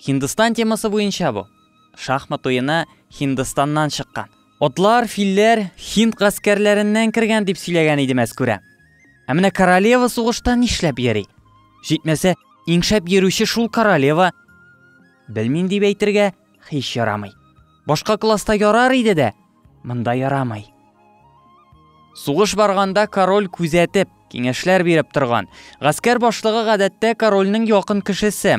Һиндстан темасы буенча бу. Шахмат уены Һиндстаннан чыккан. Атлар, филләр Һинд гаскәрләреннән кергән дип сөйләгән иде мәскүрә. Ә менә королева сугышта нишләп йөри? Җитмәсә, иңшәп йөрүче шул королева. Белмим дип әйтергә һич ярамый. Башка класста ярар иде дә, монда ярамый. Сугыш барганда король күзәтеп, киңәшләр биреп торган. Гаскәр башлыгы гадәттә корольнең якын кешесе.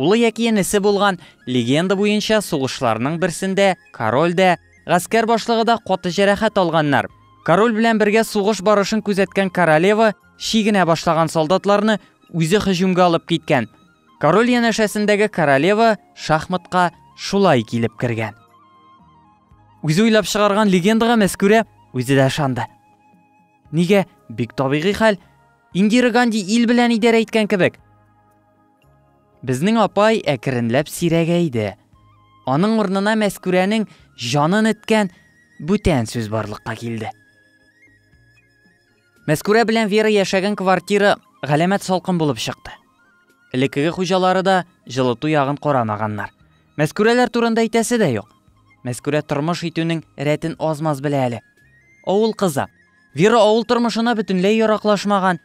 Улы яки энесе булган, легенда буенча, сугышларның берсендә король дә, гаскәр башлыгы да каты җәрәхәт алганнар. Король белән бергә сугыш барышын күзәткән королева чигенә башлаган солдатларны үзе һөҗүмгә алып киткән. Король янәшәсендәге королева шахматка шулай килеп кергән. Үзе уйлап чыгарган легендага мәскүрә үзе дә ышанды. Нигә? Бик табигый хәл. Индира Ганди ил белән идарә иткән кебек. Безнең апай әкренләп сирәгәйде. Аның урнына Мәскүрәнең җанын эткән бүтән сүз барлыкка килде. Мәскүрә белән Вера яшәгән квартира галәмәт салкын булып чыкты. Элеккеге хуҗалары да җылыту ягын карамаганнар. Мәскүрәләр турында әйтәсе дә юк. Мәскүрә тормыш итүнең рәтен аз-маз белә әле. Авыл кызы. Вера авыл тормышына бөтенләй яраклашмаган,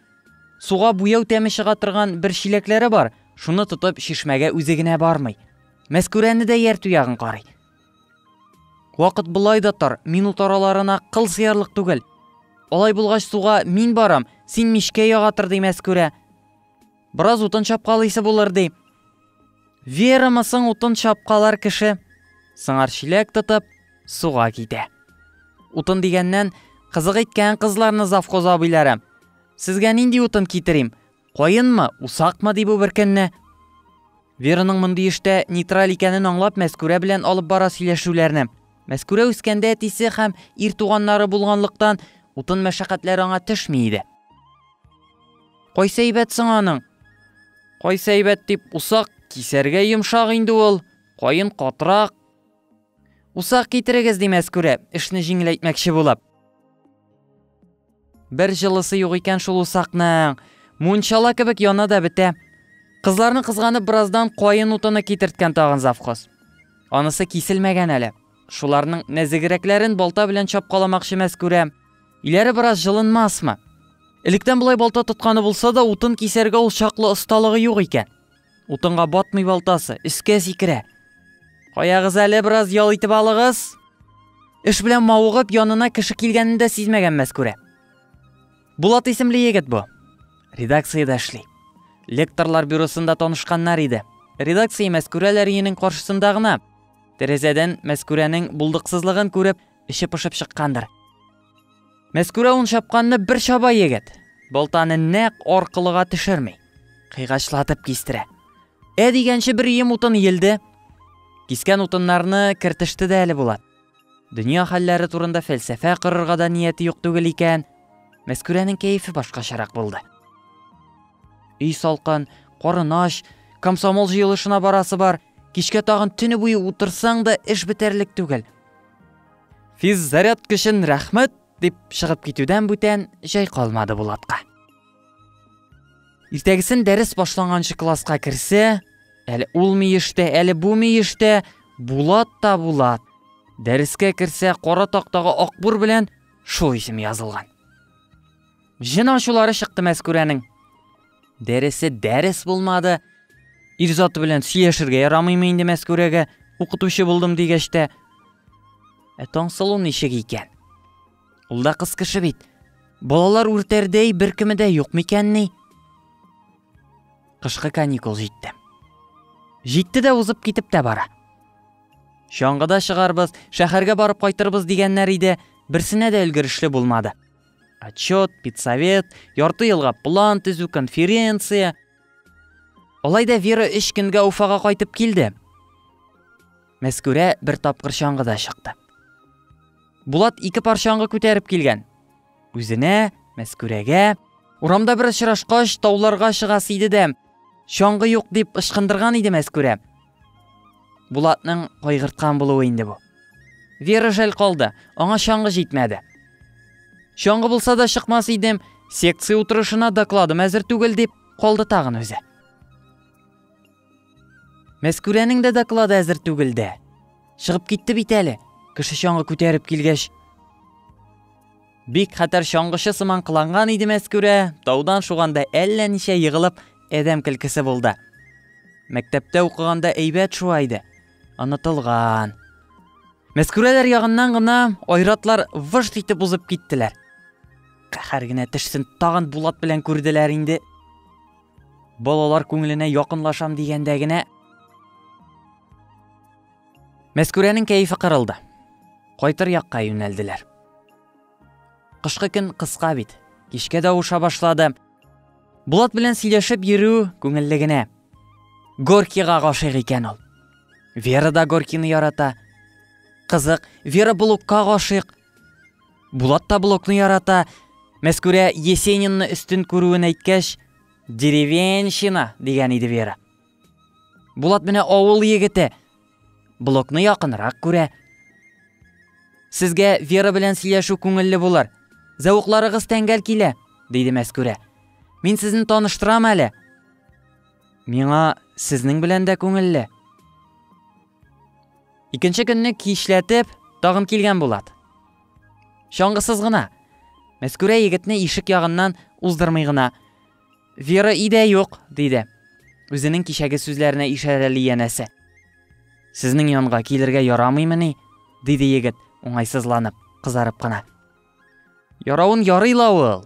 Суга буяу тәме чыга торган бер чиләкләре бар, шуны тотып чишмәгә үзе генә бармый. Мәскүрәне дә ияртү ягын карый. Вакыт болай да тар, минут араларына кыл сыярлык түгел. Алай булгач суга мин барам, син мичкә яга тор, ди Мәскүрә. Бераз утын чапкалыйсы булыр, ди. Верамы соң утын чапкалар кеше? Сыңар чиләк тотып, суга китә. Утын дигәннән, кызык иткән кызларны завхоз абыйлары. Сезгә нинди утын китерим? Каенмы, усакмы ди бу беркөнне? Вераның мондый эштә нейтраль икәнен аңлап Мәскүрә белән алып бара сөйләшүләрне. Мәскүрә үскәндә әтисе һәм ир туганнары булганлыктан утын мәшәкатьләре аңа төшми иде. Кайсы әйбәт соң аның? Кайсы әйбәт дип усак кисәргә йомшак инде ул, каен катрак. Усак китерегез ди Мәскүрә, эшне җиңеләйтмәкче булып. Бер җылысы юк икән шул усакның. Мунчала кебек яна да бетә. Кызларны кызганып бераздан каен утыны китерткән тагын завхоз. Анысы киселмәгән әле. Шуларның нәзегрәкләрен балта белән чапкаламакчы Мәскүрә. Иләре бераз җылынмасмы? Электән болай балта тотканы булса да, утын кисәргә ул чаклы осталыгы юк икән. Утынга батмый балтасы, өскә сикерә. Каягыз әле бераз ял итеп алыгыз. Эш белән мавыгып, янына кеше килгәнен дә сизмәгән Мәскүрә. Булат исемле егет бу. Редакциядә эшли. Лекторлар бюросында танышканнар иде. Редакция Мәскүрә Ләриенең каршысында гына. Тәрәзәдән Мәскүрәнең булдыксызлыгын күреп, эче пошып чыккандыр. Мәскүрә ун чапканны бер чаба егет. Балтаны нәкъ аркылыга төшерми. Кыйгачлатып кистерә. Ә дигәнче бер ием утын елде. Кискән утыннарны кертеште дә әле Булат. Дөнья хәлләре турында фәлсәфә кырырга да нияте юк түгел икән. Мәскүрәнең кәефе башкачарак булды. Өй салкан, карын ач, комсомол җыелышына барасы бар. Кичкә тагын төне буе утырсаң да эш бетәрлек түгел. Физ заряд көчен рәхмәт дип чыгып китүдән бүтән җай калмады Булатка. Иртәгесен дәрес башланганчы класска керсә, әле ул миештә, әле бу миештә Булат та Булат. Дәрескә керсә, кара тактага акбур белән шул исем язылган. Җен ачулары чыкты Мәскүрәнең. Дәресе дәрес булмады. Ирзаты белән сөяшергә ярамыймы инде Мәскүрәгә? Укытучы булдым дигәч тә. Ә Таңсылу ничек икән? Ул да кыз кеше бит. Балалар үртәрдәй беркеме дә юк микәнни? Кышкы каникул җитте. Җитте дә узып китеп тә бара. Чаңгыда чыгарбыз, шәһәргә барып кайтырбыз дигәннәр иде, берсенә дә өлгерешле булмады. Отчет, педсовет, ярты елга план төзү, конференция. Алай да Вера өч көнгә Уфага кайтып килде. Мәскүрә бер тапкыр чаңгыда чыкты. Булат ике пар чаңгы күтәреп килгән. Үзенә, Мәскүрәгә, урамда бер очрашкач, тауларга чыгасы иде дә, чаңгы юк дип ышкындырган иде Мәскүрә. Булатның кайгырткан булуы инде бу. Вера жәл калды, аңа чаңгы җитмәде. Чаңгы булса да чыкмас идем, секция утырышына докладым әзер түгел дип калды тагын үзе. Мәскүрәнең дә доклады әзер түгел дә. Чыгып китте бит әле, кеше чаңгы күтәреп килгәч. Бик хәтәр чаңгычы сыман кыланган иде Мәскүрә, таудан шуганда әллә ничә егылып, әдәм килкесе булды. Мәктәптә укыганда әйбәт шуа иде. Онытылган. Мәскүрәләр ягыннан гына айратлар вышт итеп узып киттеләр. Кәһәр генә тешсен тагын Булат белән күрделәр инде. Балалар күңеленә якынлашам дигәндә генә Мәскүрәнең кәефе кырылды. Кайтыр якка юнәлделәр. Кышкы көн кыска бит. Кичкә дә авыша башлады. Булат белән сөйләшеп йөрү күңелле генә. Горкига гашыйк икән ул. Вера да Горкины ярата. Кызык, Вера блокка гашыйк. Булат та блокны ярата. Мәскүрә Есенинны өстен күрүен әйткәч, деревенщина дигән иде Вера. Булат менә авыл егете. Блокны якынрак күрә. Сезгә Вера белән сөйләшү күңелле булыр. Зәвыкларыгыз тәңгәл килә, диде Мәскүрә. Мин сезне таныштырам әле. Миңа сезнең белән дә күңелле. Икенче көнне кичләтеп тагын килгән Булат. Чаңгысыз гына. Мәскүрә егетне ишек ягыннан уздырмый гына. Вера идә юк, диде. Үзенең кичәге сүзләренә ишарәли янәсе. Сезнең янга килергә ярамыймыни? диде егет, уңайсызланып, кызарып кына. Яравын ярый ла ул.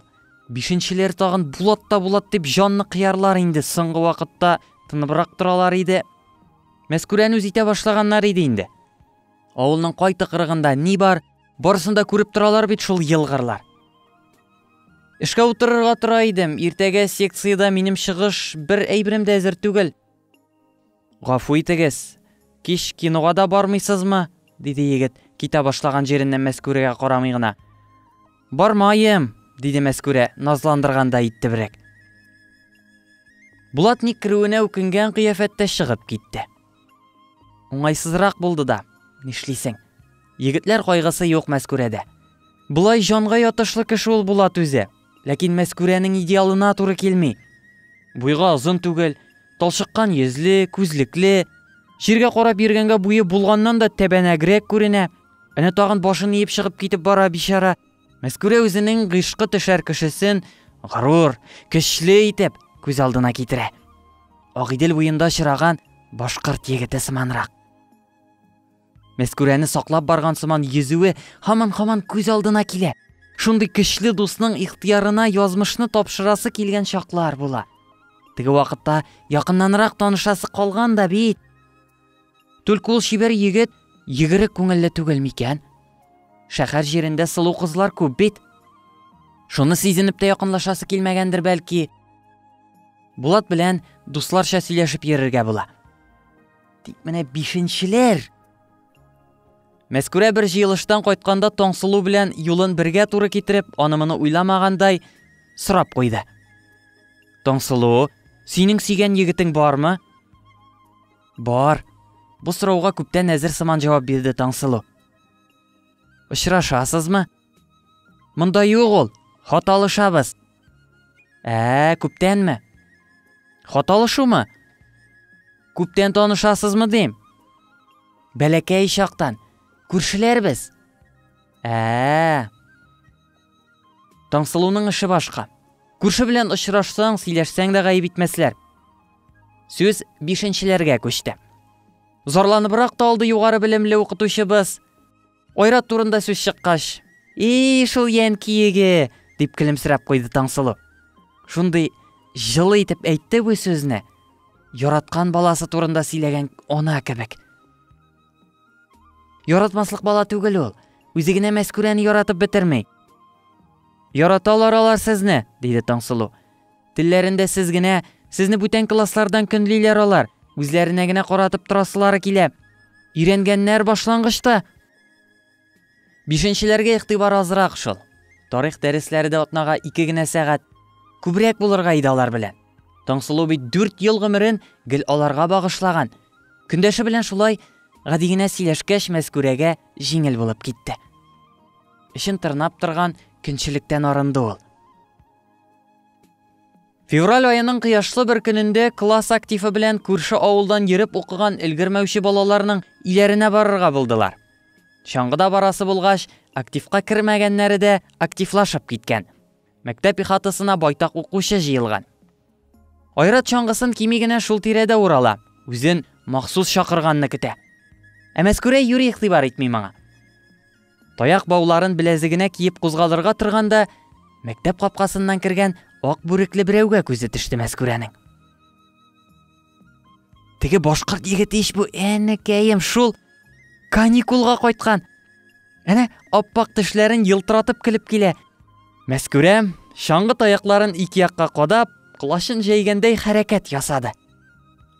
Бишенчеләр тагын булат та булат дип җанны кыярлар инде, соңгы вакытта тыныбрак торалар иде. Мәскүрән үз итә башлаганнар иде инде. Авылның кай тыкрыгында ни бар, барысын да күреп торалар бит шул елгырлар. Эшкә утырырга тора идем. Иртәгә секциядә минем чыгыш, бер әйберем дә әзер түгел. Гафу итегез, кич кинога да бармыйсызмы? диде егет, китә башлаган җиреннән Мәскүрәгә карамый гына. Бармаем, диде Мәскүрә, назландыргандай иттебрәк. Булат ник керүенә үкенгән кыяфәттә чыгып китте. Уңайсызрак булды да, нишлисең. Егетләр кайгысы юк Мәскүрәдә. Болай җанга ятышлы кеше ул Булат үзе. Ләкин Мәскүрәнең идеалына туры килми. Буйга озын түгел, талчыккан йөзле, күзлекле. Җиргә карап йөргәнгә буе булганнан да тәбәнәгрәк күренә. Әнә тагын башын иеп чыгып китеп бара, бичара. Мәскүрә үзенең гыйшкы төшәр кешесен горур, көчле итеп күз алдына китерә. Агыйдел буенда чыраган башкорт егете сыманрак. Мәскүрәне саклап барган сыман йөзүе һаман-һаман күз алдына килә. Шундый көчле дусның ихтыярына язмышны тапшырасы килгән чаклар була. Теге вакытта якыннанрак танышасы калган да бит. Түлке ул чибәр егет егерек күңелле түгел микән? Шәхәр җирендә сылу кызлар күп бит. Шуны сизенеп тә якынлашасы килмәгәндер бәлки. Булат белән дусларча сөйләшеп йөрергә була. Тик менә бишенчеләр. Мәскүрә бер җыелыштан кайтканда Таңсылу белән юлын бергә туры китереп, аны моны уйламагандай сорап куйды. Таңсылу, синең сөйгән егетең бармы? Бар. Бу сорауга күптән әзер сыман җавап бирде Таңсылу. Очрашасызмы? Монда юк ул. Хат алышабыз. Ә, күптәнме? Хат алышумы? Күптән танышасызмы дим? Бәләкәй чактан. Күршеләрбез. Ә. Таңсылуның эше башка. Күрше белән очрашсаң, сөйләшсәң дә гаеп итмәсләр. Сүз бишенчеләргә күчте. Зарланыбрак та алды югары белемле укытучыбыз. Айрат турында сүз чыккач, "И, шул янкиеге!" дип көлемсерәп куйды Таңсылу. Шундый җылы итеп әйтте бу сүзне. Яраткан баласы турында сөйләгән ана кебек. Яратмаслык бала түгел ул. Үзе генә Мәскүрәне яратып бетерми. Яраталар алар сезне, диде Таңсылу. Телләрендә сез генә, сезне бүтән класслардан көнлиләр алар, үзләренә генә каратып торасылары килә. Өйрәнгәннәр башлангычта. Бишенчеләргә игътибар азрак шул. Тарих дәресләре дә атнага ике генә сәгать. Күбрәк булырга иде алар белән. Таңсылу бит дүрт ел гомерен гел аларга багышлаган. Көндәше белән шулай гади генә сөйләшкәч, Мәскүрәгә җиңел булып китте. Эшен тырнап торган көнчелектән арынды ул. Февраль аеның кыяшлы бер көнендә класс активы белән күрше авылдан йөреп укыган өлгермәүче балаларның иләренә барырга булдылар. Чаңгыда барасы булгач, активка кермәгәннәре дә активлашып киткән. Мәктәп ихатасына байтак укучы җыелган. Айрат чаңгысын кими генә шул тирәдә урала, үзен махсус чакырганны көтә. Ә Мәскүрә юри игътибар итми моңа. Таяк бауларын беләзегенә киеп кузгалырга торганда, мәктәп капкасыннан кергән ак бүрекле берәүгә күзе төште Мәскүрәнең. Теге башкорт егете ич бу, әнекәем, шул каникулга кайткан. Әнә аппак тешләрен елтыратып килеп килә. Мәскүрәм, чаңгы таякларын ике якка кадап, колачын җәйгәндәй хәрәкәт ясады.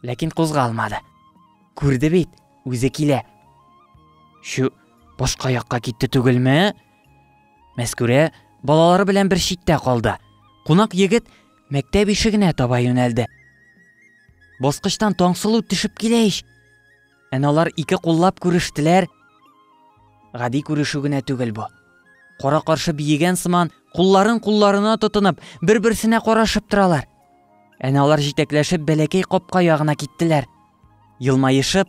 Ләкин кузгалмады. Күрде бит, үзе килә. Чү, Башка якка китте түгелме? Мәскүрә балалары белән бер читтә калды. Кунак егет мәктәп ишегенә таба юнәлде. Баскычтан Таңсылу төшеп килә ич. Әналар ике куллап күрештеләр. Гади күрешү генә түгел бу. Кара каршы биегән сыман, кулларын кулларына тотынып, бер-берсенә карашып торалар. Әналар җитәкләшеп бәләкәй капка ягына киттеләр. Елмаешып,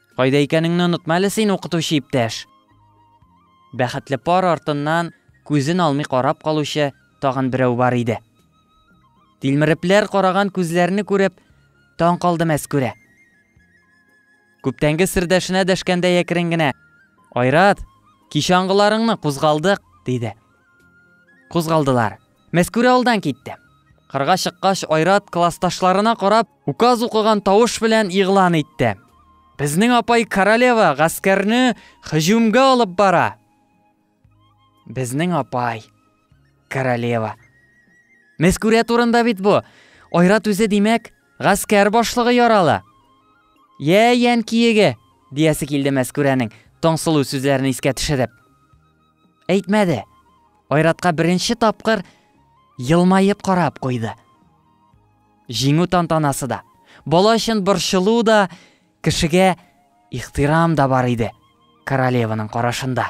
Кайда икәнеңне онытма әле син, укытучы иптәш! Бәхетле пар артыннан күзен алмый карап калучы тагын берәү бар иде. Тилмерепләр караган күзләрне күреп, таң калды Мәскүрә. Күптәнге сердәшенә дәшкәндәй әкрен генә, Айрат, кичә аңгыларыңны кузгалдык, диде. Кузгалдылар. Мәскүрә алдан китте. Кырга чыккач, Айрат классташларына карап, Указ укыган тавыш белән игълан итте. Безнең апай королева гаскәрне хыҗүмгә алып бара. Безнең апай королева. Мәскүрә турында бит бу. Айрат үзе димәк, гаскәр башлыгы яралы. Я, ян киеге, диясе килде Мәскүрәнең, Таңсылу сүзләрен искә төшереп. Әйтмәде. Айратка беренче тапкыр елмаеп карап куйды. Җиңү тантанасы да, бала өчен борчылу да, кешегә ихтирам да бар иде королеваның карашында.